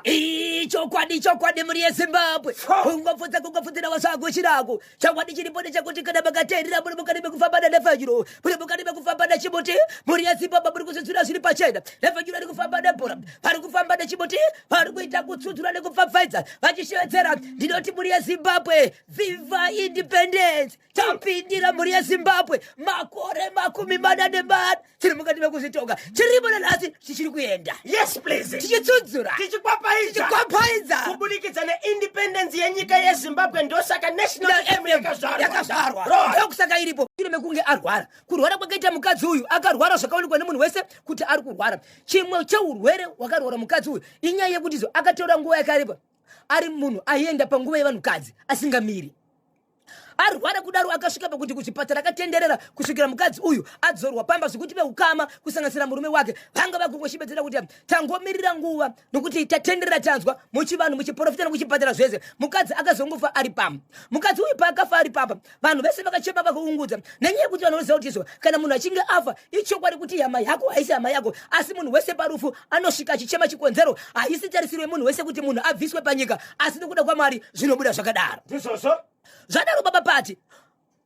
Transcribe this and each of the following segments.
ichokwadi chokwadi mhuri yezimbabwe kungopfudza kungopfudzira wasagushirako chokwadi chiripo ndechekuti kana makateerera muri mukati mekufamba nanefanyuro muri mukati mekufamba nechimuti mhuri yezimbabwe muri kuzvidzura zviri pachena nefanyuro iri kufamba nebhora vari kufamba nechimuti vari kuita kutsudzura nekupfapfaidza vachishevedzera ndinoti mhuri yezimbabwe viva independence tapindira mhuri yezimbabwe makore makumi mana nemana chiri mukati mekuzvitonga chirimo nanhasi chichiri kuenda yes please tichitsudzura tichikwapaidza kubudikidza neindependence yenyika yezimbabwe ndosaka national m yakazvarwa ndokusaka iripo iri mekunge arwara kurwara kwakaita mukadzi uyu akarwara zvakaonekwa nemunhu wese kuti ari kurwara chimwe cheurwere hwakarwara mukadzi uyu inyaya yekutizo akatora nguva yakaripa ari munhu aienda panguva yevanhukadzi asingamiri arwara kudaro akasvika pakuti kuchipatara akatenderera kusvikira mukadzi uyu adzorwa pamba zvekuti veukama kusanganisira murume wake vanga vakungoshibedzera kuti tangomirira nguva nokuti tatenderera tanzwa muchivanhu muchiporofita nokuchipatara zvese mukadzi akazongofa ari pamba mukadzi uyu paakafa ari pamba vanhu vese vakachema vakaungudza nenyaya yekuti vanhu vanoziva kuti izvo kana munhu achinge afa ichokwadi kuti hama yako haisi hama yako asi munhu wese parufu anosvika achichema chikonzero haisi tarisiro yemunhu wese kuti munhu abviswe panyika asi nokuda kwamwari zvinobuda zvakadaro ndizvozvo zvadaro baba pati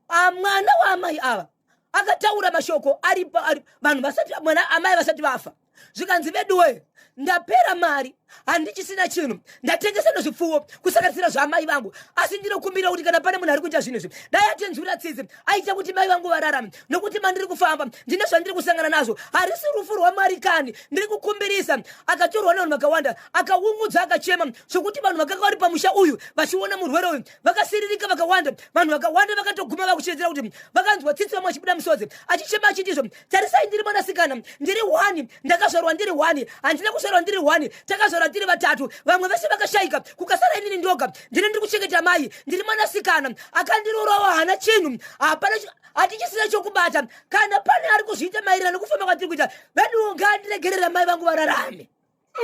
ah, mwana waamai ava akataura mashoko aripo ari vanhu vasati mwana amai vasati vafa zvikanzi veduwe ndapera mari handichisina chinhu ndatengesa nezvipfuwo kusanganisira zvaamai vangu asi ndinokumbira kuti kana pane munhu ari kuita zvinhu izvi dai atinzwira tsitsi aita kuti mai vangu vararame nokuti mandiri kufamba ndine zvandiri kusangana nazvo harisi rufu rwamari kani ndiri kukumbirisa akatorwa nevanhu vakawanda akaungudza akachema zvokuti vanhu vakanga vari pamusha uyu vachiona murwere uyu vakasiririka vakawanda vanhu vakawanda vakatoguma vakuchedzera kuti vakanzwa tsitsi vamwe achibuda musodzi achichema achitizvo tarisai ndiri mwanasikana ndiri wani ndakazvarwa ndiri wani handina kuzvarwa ndiri wani takazvarwa tiri vatatu vamwe vese vakashayika kukasara inini ndoga ndine ndiri kuchengeta mai ndiri mwanasikana akandirorawa hana chinhu hapana hatichisina chokubata kana pane ari kuzviita maererano kufamba kwatiri kuita veniwo ngandiregerera mai vangu vararame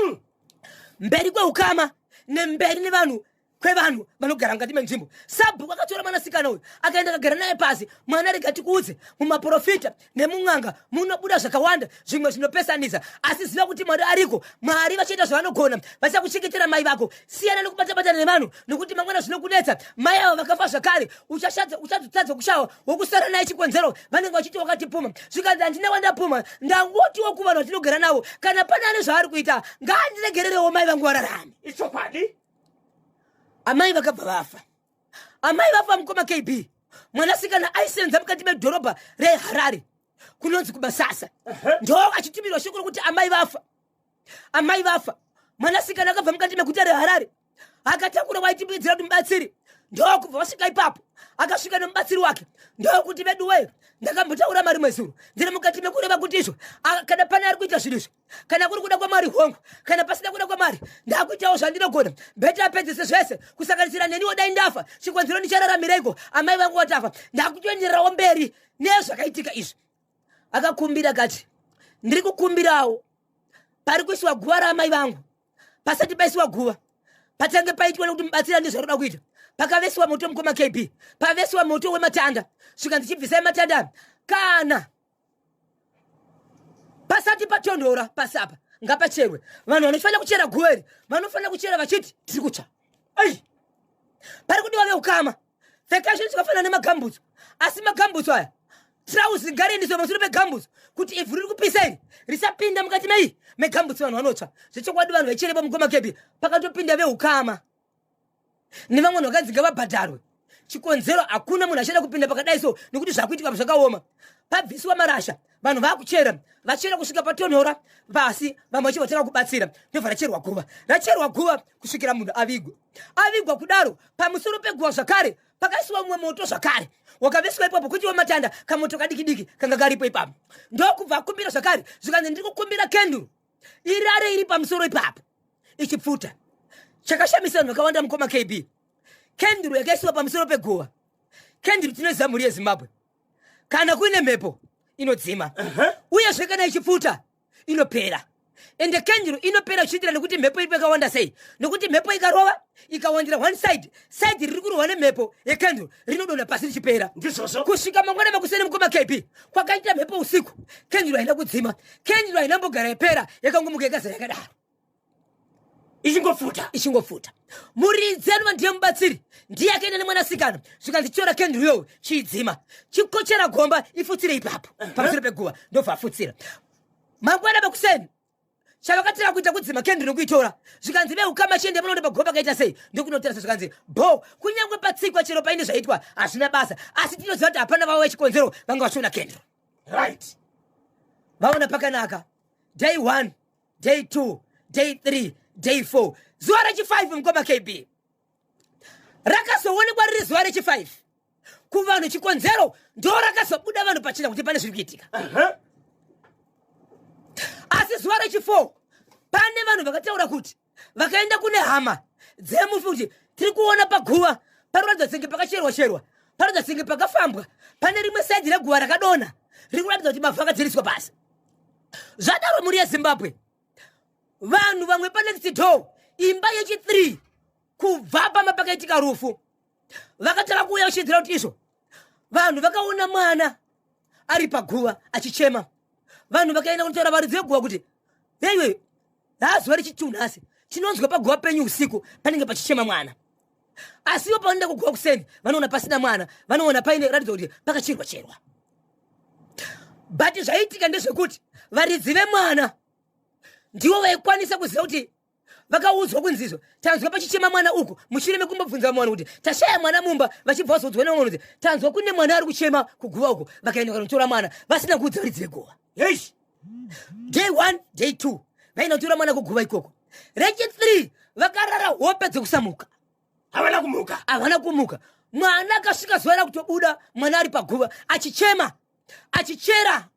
mm. mberi kweukama nemberi nevanhu kwevanhu vanogara mukati menzvimbo sabhuku akatora mwanasikana uyu akaenda akagara naye pasi mwana rega tikuudze mumaprofita nemun'anga munobuda zvakawanda zvimwe zvinopesanisa asi ziva kuti mwari ariko mwari vachaita zvavanogona vachakuchengetera mai vako siyana nekubatabatana nevanhu nokuti mangwana zvinokunetsa mai avo vakafa zvakare uchazotadza kushawa wokusara naye chikonzero vanenge vachiti wakatipuma zvikanzi handina wandapuma ndangotiwo kuvanhu vatinogara navo kana pane ane zvaari kuita ngaandiregererewo mai vangu vararame ichokwadi amai vakabva vafa amai vafa mukoma kb mwanasikana aisenza mukati medhorobha reharare kunonzi kumasasa ndo achitumirwa shoko rokuti amai vafa amai vafa mwanasikana akabva mukati meguta reharare akatakura waitimuidzira kuti mubatsiri ndokubva vasvika ipapo akasvika nemubatsiri wake ndokuti veduwee ndakambotaura mari mwezuro ndiri mukati mekureva kuti izvo kana pane ari kuita zvinhu izvo kana kuri kuda kwamwari hongu kana pasina kuda kwamwari ndakuitawo zvandinogona bheti apedzese zvese kusanganisira neniwo dai ndafa chikonzero ndichararamireiko amai vangu watafa ndakutoendererawo mberi nezvakaitika izvi akakumbira kati ndiri kukumbirawo pari kuisiwa guva raamai vangu pasati paisiwa guva patange paitwa nekuti mubatsira nezvaroda kuita pakavesiwa moto mukoma kb pavesiwa moto wematanda svikanzi chibvisai matanda kana pasati patonhora pasi apa ngapacherwe vanhu vanofanira kuchera guva iri vanofanira kuchera vachiti tiri kutsva ai pari kudiwa veukama pfekasho tikafanira nemagambutso asi magambutso aya trausi ngariendiswe pamusoro pegambutso kuti ivhu riri kupisa iri risapinda mukati mei megambutso vanhu vanotsva zvechokwadi vanhu vaicherepa mugoma kepi pakatopinda veukama nevamwe vanhu vakanzi ngavabhadharwe chikonzero hakuna munhu achada kupinda pakadai so nekuti zvakuitika pa zvakaoma pabviswa marasha vanhu vakuchera vachera kusvika patonhora pasi vamwe vachi vatanga kubatsira ndobva racherwa guva racherwa guva kusvikira munhu avigwa avigwa kudaro pamusoro peguva zvakare pakaisiwa mumwe moto zvakare wakaveswa ipapo kuti wamatanda kamoto kadikidiki kanga karipo ipapo ndokubva akumbira zvakare zvikanzi ndiri kukumbira kenduru irare iri pamusoro ipapo ichipfuta chakashamisa vanhu vakawanda mukoma kb kenduru yakaisiwa pamusoro peguva kenduru tinoziva mhuri yezimbabwe kana kuine mhepo inodzima uyezve kana ichipfuta inopera ende kenduru inopera zvichiitira nekuti mhepo iripo yakawanda sei nokuti mhepo ikarova ikawandira one side side riri kurohwa nemhepo yekenduru rinodonha pasi richipera kusvika mangwana makuseni mukoma kb kwakaita mhepo usiku kenduru haina kudzima kenduru hainambogara yapera yakangomuka yakazara yakadaro ichingofuta ichingofuta muridzi anova ndiye mubatsiri ndiye akaenda nemwanasikana zvikanzi tyora kenduru yowe chiidzima chikochera gomba ifutsire ipapo pamusoro peguva ndobva afutsira mangwana pakuseni chavakatira kuita kudzima kendi nokuitora zvikanzi veukama chiende munoona pagomba kaita sei ndokunotarisa zvikanzi bo kunyange patsikwa chero paine zvaitwa hazvina basa asi tinoziva kuti hapana vavo vechikonzero vanga vachiona kendro right vaona pakanaka day one day two day three day four zuva rechifive mukoma kb rakazoonekwa riri zuva rechifive kuvanhu chikonzero ndo rakazobuda vanhu pachina kuti pane zviri kuitika asi zuva rechifour pane vanhu vakataura kuti vakaenda kune hama dzemufi kuti tiri kuona paguva panoratidza senge pakacherwa cherwa panoratidza senge pakafambwa pane rimwe saidhi reguva rakadonha riri kuratidza kuti mavhu akadzeriswa pasi zvadaro mhuri yezimbabwe vanhu vamwe panext door imba yechi3 kubva pamba pakaitika rufu vakatanga kuuya vachiedzera kuti izvo vanhu vakaona mwana ari paguva achichema vanhu vakaenda kunotaura varidzi veguva kuti yeiwe haazuva rechituu nhasi chinonzwa paguva penyu usiku panenge pachichema mwana asiwo panoenda kuguva kuseni vanoona pasina mwana vanoona paine ratidza kuti pakachirwa cherwa but zvaiitika ndezvekuti varidzi vemwana ndivo vaikwanisa kuziva kuti vakaudzwa kunzi izvo tanzwa pachichema mwana uku mushure mekumbobvunza vamwe vanhu kuti tashaya mwana mumba vachibva vazoudzwa nevamwe vanhu kuti tanzwa kune mwana ari kuchema kuguva uku vakaenda kanotora mwana vasina kuudza varidzi veguva yes day one day two vaenda kutora mwana kuguva ikoko rechi three vakarara hope dzekusamuka havana kumuka havana kumuka mwana akasvika zuva rakutobuda mwana ari paguva achichema achichera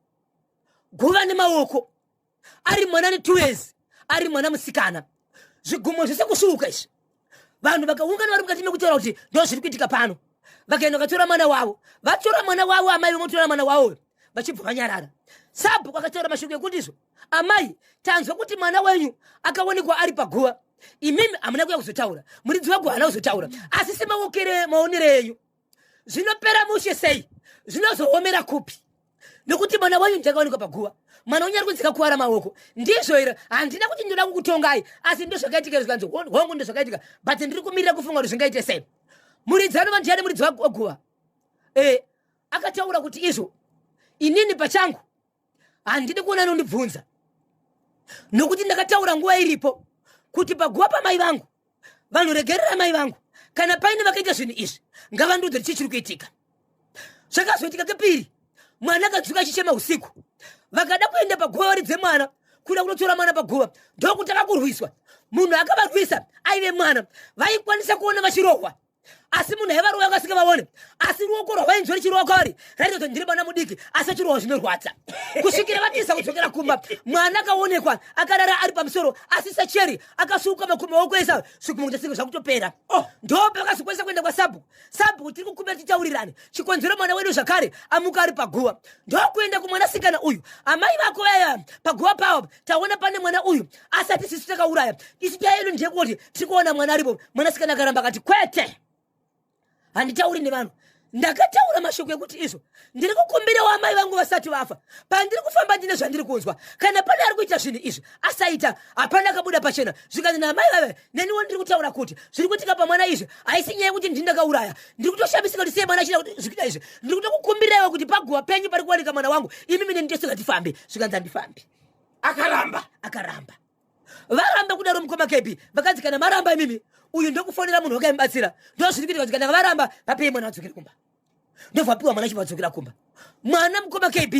guva nemaoko ari mwana netwo years ari mwana musikana zvigumo zvese kusuka izvi vanhu vakaungana vari mukati mekutaura kuti ndo zviri kuitika pano vakaenda vakatora mwana wavo vatora mwana wavo amai vemotora mwana wavo vachibva vanyarara sabhuku akataura mashoko ekuti izvo amai tanzwa kuti mwana wenyu akaonekwa ari paguva imimi hamuna kuya kuzotaura muridzi wako haana kuzotaura asi semaokere maonere enyu zvinopera mushe sei zvinozoomera kupi nokuti mwana wenyu ndakaonekwa paguva mwana wenyu ari kunzika kuvara maoko ndizvo here handina kuti ndinoda kukutongai asi ndo zvakaitika zvikanzi hongu ndo zvakaitika but ndiri kumirira kufunga kuti zvingaite sei muridzi anova ndiyani muridzi waguva e akataura kuti izvo inini pachangu handidi kuona anondibvunza nokuti ndakataura nguva iripo kuti paguva pamai vangu vanhu regerera mai vangu kana paine vakaita zvinhu izvi ngavandiudze chii chiri kuitika zvakazoitika kepiri mwana akadzuka achichema usiku vakada kuenda paguva varidze mwana kuda kunotora mwana paguva ndokutanga kurwiswa munhu akavarwisa aive mwana vaikwanisa kuona vachirohwa asi munhu aiva ruwa akasika vaone asi ruoko rwavainzwa richirowa kwavari raita kuti ndiri mwana mudiki asi achirowa zvinorwadza kusvikira vatiza kudzokera kumba mwana akaonekwa akarara ari pamusoro asi sacheri akasuka makumi oko esa zvikumukutasiga zvakutopera oh. ndo pakazokwanisa kuenda kwasabhuku sabhuku tiri kukumbira titaurirane chikonzero mwana wedu zvakare amuka ari paguva ndokuenda kumwanasikana uyu amai vako vaya paguva pavo taona pane mwana uyu asi ati sisi takauraya isu nyaya yedu ndeyekuti tiri kuona mwana aripo mwanasikana akaramba akati kwete handitauri nevanhu ndakataura mashoko ekuti izvo ndiri kukumbirawo amai vangu vasati vafa pandiri kufamba ndine zvandiri kunzwa kana pane ari kuita zvinhu izvi asaita hapana akabuda pachena zvikanzi naamai vave neniwo ndiri kutaura kuti zviri kuitika pamwana izvi haisi nyaya yekuti ndini ndakauraya ndiri kutoshamisika kuti sei mwana achida kuti zvikuita izvi ndiri kutokukumbiraiwo kuti paguva penyu pari kuwanika mwana wangu imi mine nditosingatifambi zvikanzi handifambi akaramba akaramba varamba kudaro mukoma kepi vakanzi kana maramba imimi uyu ndokufonera munhu wake aimubatsira ndozviri kuita kuti kana varamba vapei mwana vadzokere kumba ndovapihwa mwana chivadzokera kumba mwana mukoma kb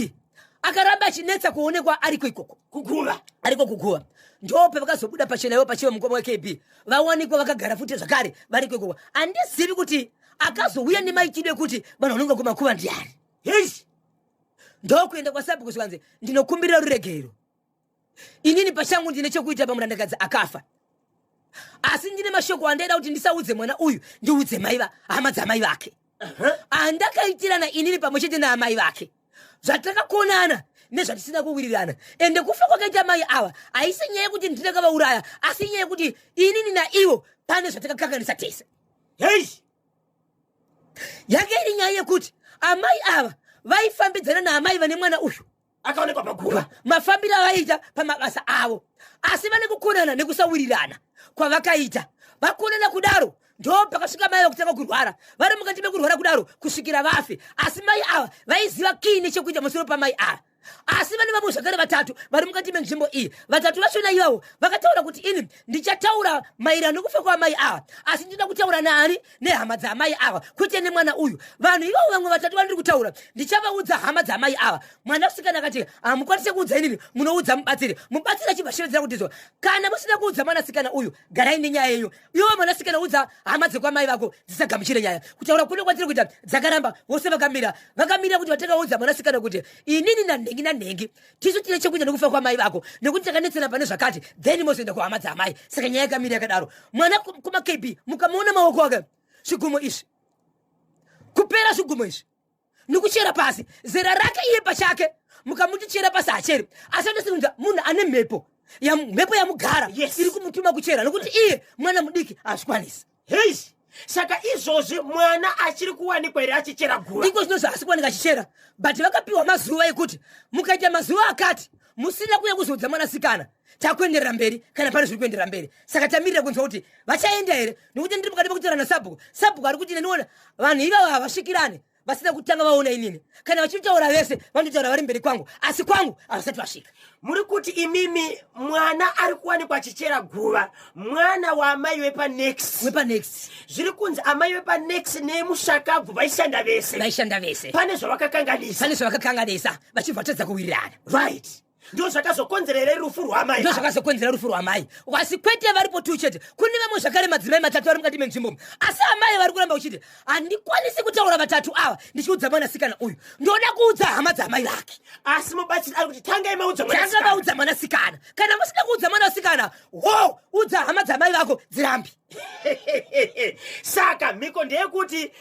akaramba achinetsa kuonekwa ariko ikoko kuguva ariko kuguva ndope vakazobuda pachena ivo pachiva mukoma wekb vawanikwa vakagara futi zvakare variko ikoko handizivi kuti akazouya nemaitiro ekuti vanhu vanonga kumakuva ndiani hei ndokuenda kwasabhuku zvikanzi ndinokumbirira ruregerero inini pachangu ndine chokuita pamurandakadzi akafa asi ndine mashoko andaida kuti ndisaudze mwana uyu ndiudze mai va hama dzamai vake andakaitirana inini pamwe chete naamai vake zvatakakonana nezvatisina kuwirirana ende kufa kwakaita mai ava haisi nyaya yekuti ndinakavauraya asi nyaya yekuti inini naivo pane zvatakakanganisa tese hei yanga iri nyaya yekuti amai ava vaifambidzana naamai vane mwana uyu akaonekwa paguva mafambiro avaiita pamabasa avo asi vane kukonana nekusawirirana kwavakaita vakonana kudaro ndo pakasvika mai vakutanga kurwara vari mukati mekurwara kudaro kusvikira vafe asi mai ava vaiziva kii nechekuita musoro pamai ava asi vane vamwe zvakare vatatu vari mukati menzvimbo iyi vatatu vachona ivavo vakataura kuti ini ndichataura mairano nekufa kwaamai ava asi ndinoda kutaura naani nehama dzaamai ava kwete nemwana uyu vanhu ivavo vamwe vatatu vandiri kutaura ndichavaudza hama dzaamai ava mwana kusikana akati hamukwanise kuudza inini munoudza mubatsiri mubatsiri achibva shevedzera kutizwa kana musina kuudza mwanasikana uyu garai nenyaya yenyu iwe mwanasikana udza hama dzekwamai vako dzisagamuchire nyaya kutaura kuno kwatiri kuita dzakaramba vose vakamira vakamira kuti vatakaudza mwanasikana kuti inini nanhengi nanhengi tisu tine chekuita nekufa kwamai vako nekuti takanetsana pane zvakati then mozoenda kuhama dzaamai saka nyaya yakamira yakadaro mwana kumakb mukamuona maoko ake zvigumo izvi kupera zvigumo izvi nekuchera pasi zera rake iye pachake mukamuti chera pasi hacheri asi anosinza munhu ane mhepo mhepo yamugara yes. iri kumutuma kuchera nokuti iye mwana mudiki hazvikwanisi hei saka izvozvi mwana achiri kuwanikwa here achichera gura iko zvinozvi asi kuwanika achichera but vakapiwa mazuva ekuti mukaita mazuva akati musina kuya kuzoudza mwanasikana takuenderera mberi kana pane zviri kuenderera mberi saka tamirira kunzwa kuti vachaenda here nokuti ndiri mukati mekutaura nasabhuku sabhuku ari kuti neniona vanhu ivavo havasvikirane vasina kutanga vaona inini kana vachitaura vese vanotaura vari mberi kwangu asi kwangu havasati vasvika muri kuti imimi mwana ari kuwanikwa achichera guva mwana waamai wepanext wepanext zviri kunzi amai wepanext nemushakabvu vaishanda vese vaishanda vese pane zvavakakanganisa pane zvavakakanganisa vachibva vatadza kuwirirana right ndo zvakazokonzera here rufu rwamai ndo zvakazokonzera rufu rwamai wasi kwete varipo tu chete kune vamwe zvakare madzimai matatu vari mukati menzvimbo asi amai vari kuramba uchiti handikwanisi kutaura vatatu ava ndichiudza mwanasikana uyu ndoda kuudza hama dzamai vake asi mubatsiri ari kuti tangai maudza tanga vaudza mwanasikana kana musina kuudza mwanasikana ho udza hama dzamai vako dzirambi saka mhiko ndeyekuti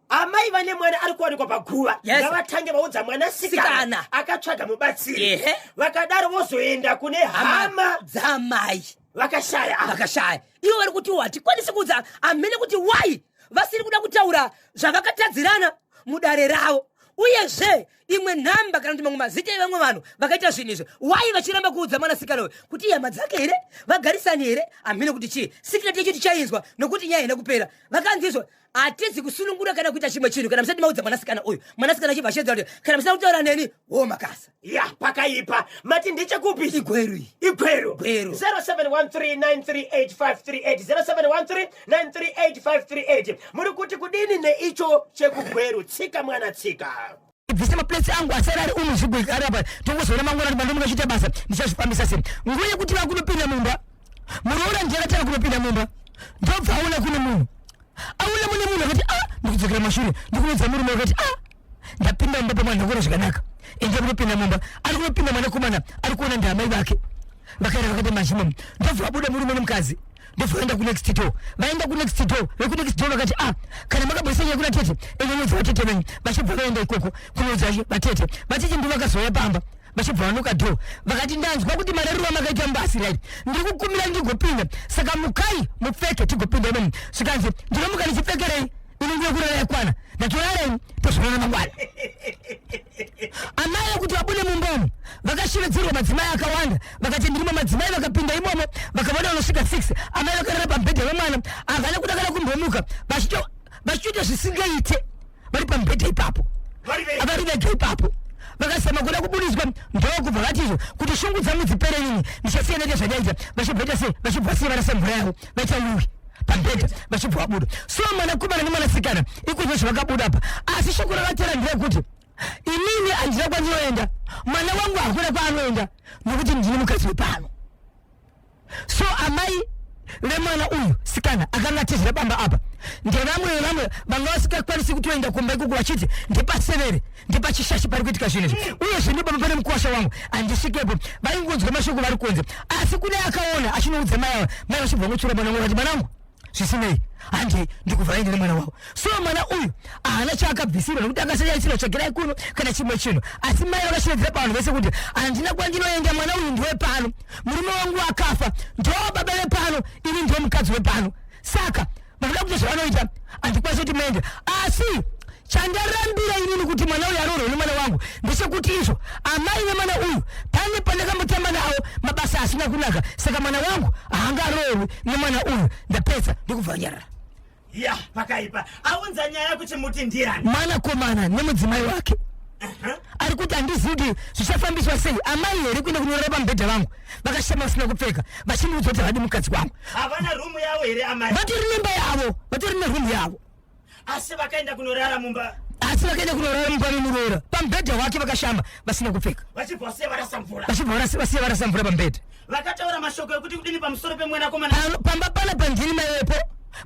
amai vane mwana ari kuwanikwa paguva Yes. ngavatange vaudza mwana sikana Sikana. akatsvaga mubatsiri Ehe. vakadaro vozoenda kune hama dzamai vakashaya ava. vakashaya ivo vari kuti hatikwanisi kuudza amene kuti why vasiri kuda kutaura zvavakatadzirana mudare ravo uyezve imwe nhamba kana kuti mamwe mazita evamwe vanhu vakaita zvinhu izvi why vachiramba kuudza mwanasikana uyu kuti ihama dzake here vagarisani here amene kuti chii sikireti yacho tichainzwa nokuti nyaya haina kupera vakanzizwa hatizi kusunungura kana kuita chimwe chinhu kana musati maudza mwanasikana uyu mwanasikana achibva achedza kuti kana musina kutaura neni wo makasa ya pakaipa mati ndechekupi igweru iyi igweru Gweru. 0713938538 0713938538 muri kuti kudini neicho chekugweru tsika mwana tsika ibvise maplates angu asara ari umu zvigwekare apa tongozoona mangwana kuti ndomuka chiita basa ndichazvifambisa sei nguva yekuti vakunopinda mumba muroora ndiakatanga kunopinda mumba ndobva aona kune munhu aona mune munhu akati a ah, ndikudzokera mashure ndikuudza murume akati a ah, ndapinda mumba pamwana ndakona zvakanaka ende kunopinda mumba ari kunopinda mwanakomana ari kuona ndiamai vake Vakaenda vakaita maximum ndobva vabuda murume nemukadzi ndobva vaenda kunext door vaenda kunext door vekunext door vakati ah kana makabudisa nyaya kuna tete inonodza vatete venyu vachibva vaenda ikoko kunodza vatete vatete ndivo vakazouya pamba vachibva vanoka door vakati ndanzwa kuti marariro amakaita mbasi right ndiri kukumira ndigopinda saka mukai mupfeke tigopinda imomo zvikanzi ndinomuka ndichipfekerei inenge yekurara yakwana ndatorara ini tozonana mangwana amai kuti vabude mumbomo vakashevedzerwa madzimai akawanda vakati ndirimo madzimai vakapinda imomo vakavona vanosvika six amai vakarara pamubhedha vemwana havana kuda kana kumbomuka vachitoita zvisingaite vari pamubhedha ipapo avari vega ipapo vakasema kuda kubudiswa ndokubva vatizvo kuti shungu dzangu dzipere nini ndichasiya neke zvanyaita vachibvaita se vachibva se varasemvura yavo vaita uwi pabhedha vachibva vabuda so mwanakomana nemwanasikana ikozvo zvavakabuda apa asi shoko ravatera nderekuti inini handina kwandinoenda mwana wangu hakuna kwaanoenda nokuti ndine mukadzi wepano so amai vemwana uyu sikana akanga atizira bamba apa ndevamwe vevamwe vanga vasikakwanisi kutoenda kumba ikoko vachiti ndepasevere ndipachishashi pari kuitika zvinhu izvi uye zvino baba pane mukuwasha wangu handisvikepo vaingonzwa mashoko vari kunze asi kune akaona achinoudza mai ava mai vachibva ngotsura mwana wangu vati mwanangu zvisinei handei ndikuvharai ndine mwana wavo so mwana uyu haana chaakabvisirwa nokuti akasayaisirwa tsvagirai kuno kana chimwe chinhu asi mai vakashevedzera pavanhu vese kuti handina kwandinoenda mwana uyu ndiwe pano murume wangu akafa ndoo baba vepano ini ndiwo mukadzi wepano saka vanoda kuita zvavanoita handikwanisi kuti mende asi chandarambira inini kuti mwana uyu aroorwa nemwana wangu ndechekuti izvo amai vemwana uyu pane pandakambotamba navo mabasa asina kunaka saka mwana wangu haanga aroorwi nemwana uyu ndapedza ndikubva nyarara ya pakaipa aunza nyaya kuchimuti ndiani mwanakomana nemudzimai wake ari kuti handizivi kuti zvichafambiswa sei amai here kuenda kunorara pamubhedha vangu vakashama vasina kupfeka vachindiudza kuti havadi mukadzi wangu havana rumu yavo here amai vatori nemba yavo vatori nerumu yavo asi vakaenda kunorara mumba asi vakaenda kunorara mumba memuroora pamubhedha wake vakashama vasina kupfeka vachibva vasiya varasa mvura pamubhedha vakataura mashoko ekuti kudini pamusoro pemwanakomana pamba pana pandini mai wepo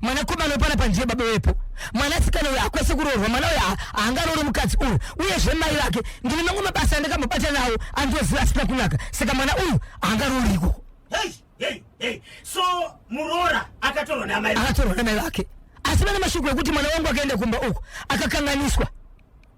mwanakomana pana pandie baba wepo mwanasikana uyo akwese kuroorwa mwana uyo haangaroore mukadzi uyu uyezve mai vake ndine mamwe mabasa andakamubata nawo andoziva asina kunaka saka mwana uyu haangaroori ikoko so muroora akatorwa namai akatorwa namai vake asi vana mashoko ekuti mwana wangu akaenda kumba uku akakanganiswa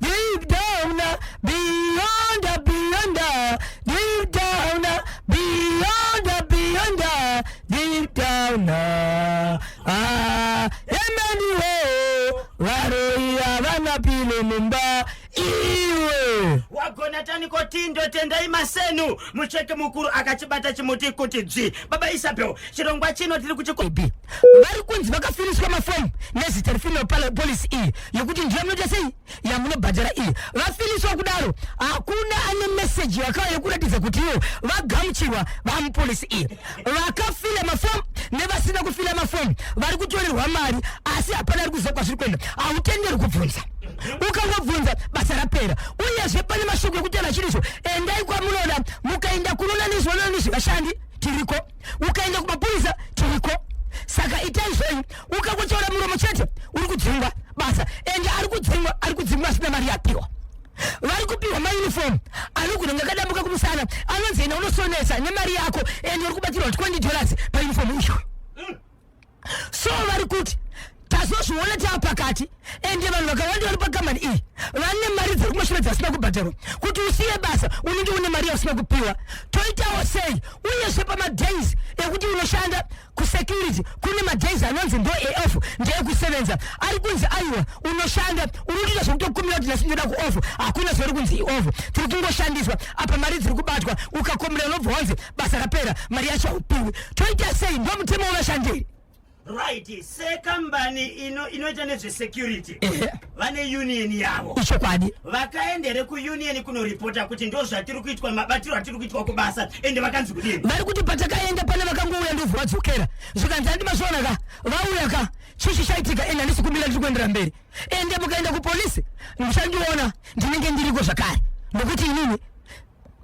Deep down, beyond, beyond, deep down, beyond, beyond, deep down. Ah, emani wo, varoi havana pilo mumba iwe. wagona taniko tindo tendai masenu mucheki mukuru akachibata chimuti kuti dzvi baba isabel chirongwa chino tiri kuchikob vari kunzi vakafiriswa mafomu nezita refemale pala polisi iyi yekuti ndiyo munoita sei yamunobhadhara iyi vafiriswa kudaro hakuna ane meseji yakauya yekuratidza kuti ivo vagamuchirwa vamupolisi iyi vakafila mafomu nevasina kufila mafomu vari kutorerwa mari asi hapana ari kuziva kwazviri kuenda hautenderwi kubvunza ukangobvunza basa rapera uyezve pane mashoko ekuti ana chiriso endai kwamunoda mukaenda kunoona nezvinoona nezvevashandi tiriko ukaenda kumapurisa tiriko saka itai zvenyu ukangotaura muromo chete uri kudzingwa basa ende ari kudzingwa ari kudzingwa asina mari yapiwa vari kupihwa mauniform anogona kunge akadambuka kumusana anonzi enda unosonesa nemari yako and uri kubatirwa 20 dollars pauniform icho so vari kuti tazozviona tava pakati ende vanhu vakawanda vari pakamani iyi vane mari dziri kumashure dzasina kubhadharwa kuti usiye basa unenge une mari yausina kupiwa toitawo sei uyezve pamadays ekuti unoshanda kusecurity kune madays anonzi ndo aof ndeekusevenza ari kunzi aiwa unoshanda unotoita zvekutokumira kuti nhasi ndoda kuof hakuna zviri kunzi iof tiri kungoshandiswa apa mari dziri kubatwa ukakomera unobva wanzi basa rapera mari yacho haupiwi toita sei ndo mutemo wevashandiri right sekambani inoita nezvesecurity vane union yavo ichokwadi vakaendere kuunion kunoripota kuti ndo zvatiri kuitwa mabatiro atiri kuitwa kubasa ende vakanzi kudii vari kuti patakaenda pane vakangouya ndobva vadzokera zvikanzi handi mazviona ka vauya ka chii chichaitika ende handisi kumira ndiri kuendera mberi ende mukaenda kupolisi ndichandiona ndinenge ndiriko zvakare nokuti inini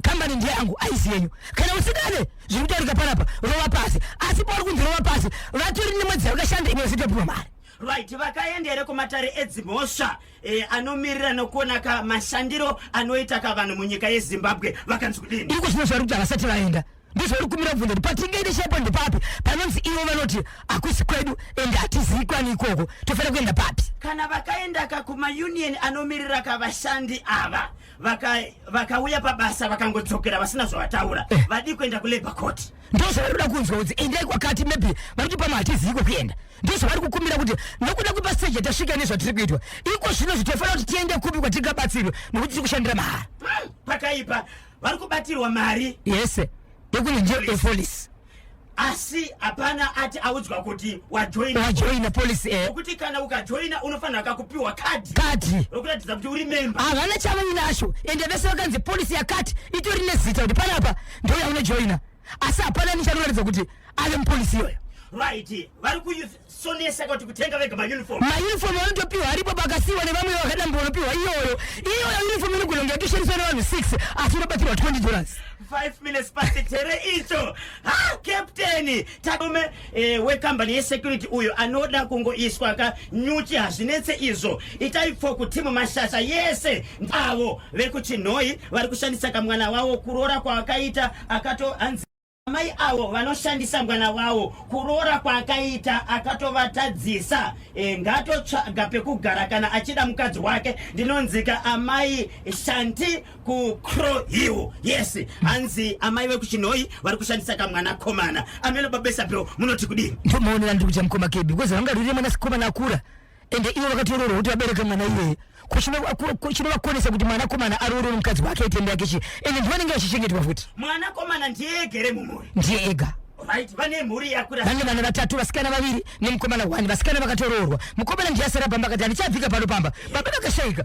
kambani ndiye yangu aisi yenyu kana usikane zviri kutaurika panapa rova pasi asi pauri kunzi rova pasi vatori nemwedzi yavakashanda imwe zitopihwa mari Right, vakaenda here kumatare edzimhosva eh, anomirira nokuona ka mashandiro anoita ka vanhu munyika yezimbabwe vakanzi kudini iko zvino zvavari kuti havasati vaenda ndozvavari kumira kubvunza kuti patingaende shepo ndepapi panonzi ivo vanoti hakusi kwedu ende hatizivi kwani ikoko tofanira kuenda papi kana vakaenda ka kumaunion anomirira ka vashandi ava vakauya vaka pabasa vakangodzokera vasina zvavataura eh. vadii kuenda kulabour court ndozvavari kuda kunzwa kuti endai kwakati maybe vari kuti pamwe hatizivi kwekuenda ndozvavari kukumbira kuti nokuda kwepaseji yatasvika nezvatiri kuitwa iko zvino zvitofanira kuti tiende kupi kwatingabatsirwe nokuti tiri kushandira mahara pakaipa vari kubatirwa mari yese yekunenje epolisi asi hapana ati audzwa kuti wajoina wajoina polisi e nokuti kana ukajoina unofanira kakupiwa kadhi kadhi rokuratidza kuti uri memba havana chavainacho ende vese vakanzi polisi yakati itori nezita kuti panapa ndouya unojoina asi hapana nichanoratidza kuti ave mupolisi iyoyo right vari kusonesa kuti kutenga vega mauniform mauniform anotopiwa aripo pakasiwa nevamwe vakadambo vanopiwa iyoyo iyoyo uniform inogona kunge yatoshandiswa nevanhu 6 asi unobatirwa 20 dollars 5 minutes past tere icho ha captain Tarume eh, wekambani yesecurity uyo anoda kungoiswa ka nyuchi hazvinetse izvo itai pfoku timu mashasha yese avo vekuchinhoyi vari kushandisa kamwana wavo kuroora kwaakaita akato anzi amai avo vanoshandisa mwana wavo kuroora kwaakaita akatovatadzisa e, ngatotsvaga pekugara kana achida mukadzi wake ndinonzika amai shanti kucrow hill yes hanzi amai vekuchinhoyi vari kushandisa kamwana komana ameno babesa bro munoti kudii ndomaonera ndiri kucha mukoma kebi because vanga riri mwana sikomana akura ende ivo vakatoroorwa kuti vabereke mwana iyeye chinovakonesa kuti mwana komana aroore mukadzi wake aitenda yake chii ende ndivanenge vachichengetwa futi mwana komana ndiye egere mumhuri ndiye ega right vane mhuri yakura vane vana vatatu vasikana vaviri nemukomana one vasikana vakatoroorwa mukomana ndiye asara pamba akati handichabvika pano pamba baba vakashaika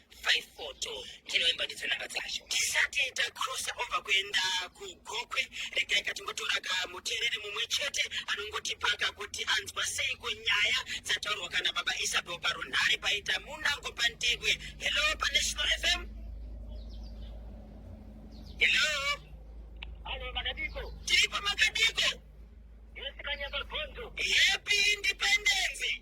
faifoto ndinoimba ndidzo namba dzacho tisati takrosa over kuenda kugokwe regai katingotora kamutereri mumwe chete anongotipaka kuti anzwa sei kunyaya dzataurwa kana baba isabel parunhare paita munango pantegwe hello panational fm hello alo makadiko tiripo makadiko yesikanyamagonzo happy independence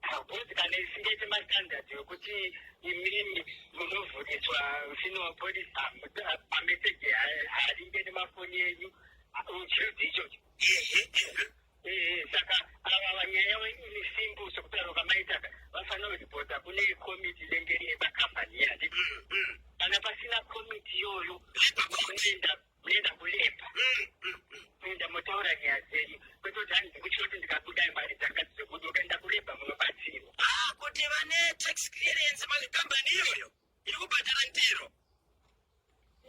Hakuti kana isingaite mastandard wekuti imimi munovhuniswa mfini wapolisi pameseji haringe nemafoni enyu uchirudzi ichocho saka ava vanyaya ini simbu sokutaura kwamaitaka vafanira kuripota kune komiti inenge iri yepakambani yati kana pasina komiti iyoyo unoenda munoenda kulepa munoenda motaura nyaya dzenyu kwete kuti hanzi kuchoti ndikabuda mari dzanga dzekuti ukaenda kulepa munobatsirwa ah, kuti vane tax clearance mazvikambani iyoyo iri kubhadhara ndiro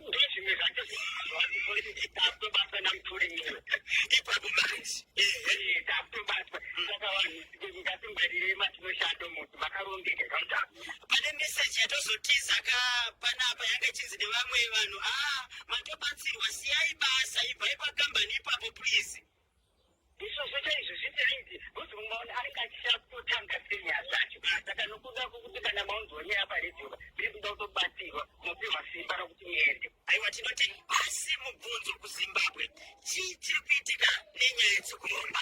ndozvimwe zvacho zvakutobatwa namuturi miro ipapo manje takutobatwa saka vanhu ngatingwarirei matinoshando munhu makarongeka kamutano pane meseji yatozotiza ka panapa yanga ichinzi nevamwe vanhu a ah, matobatsirwa siyai basa ibvai pakambani ipapo please izvozvo chaizvo zvitaiti kuti mumwe munhu anenge achisakutanga senya zvacho saka nokuda kwokuti kana maunzwanya apa redio ndiri kuda kutobatsirwa mopihwa simba rokuti muende aiwa tinoti asi mubvunzo kuzimbabwe chii chiri kuitika nenyaya dzekuromba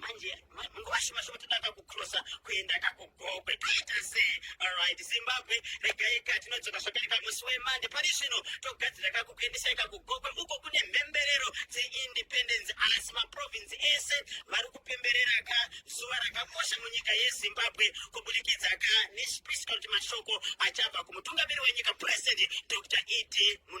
manje nguva shoma shoma todada kucrossa kuenda kakugokwe toita se alright zimbabwe regai ka tinodzoka zvakare kamusi wemande pari zvino togadzira kakukuendesa ikakugokwe uko kune mhemberero dzeindependence asi maprovinsi ese vari kupemberera ka zuva rakakosha munyika yezimbabwe kubudikidza ka nechipisi kana kuti mashoko achabva kumutungamiri wenyika president dr ed muna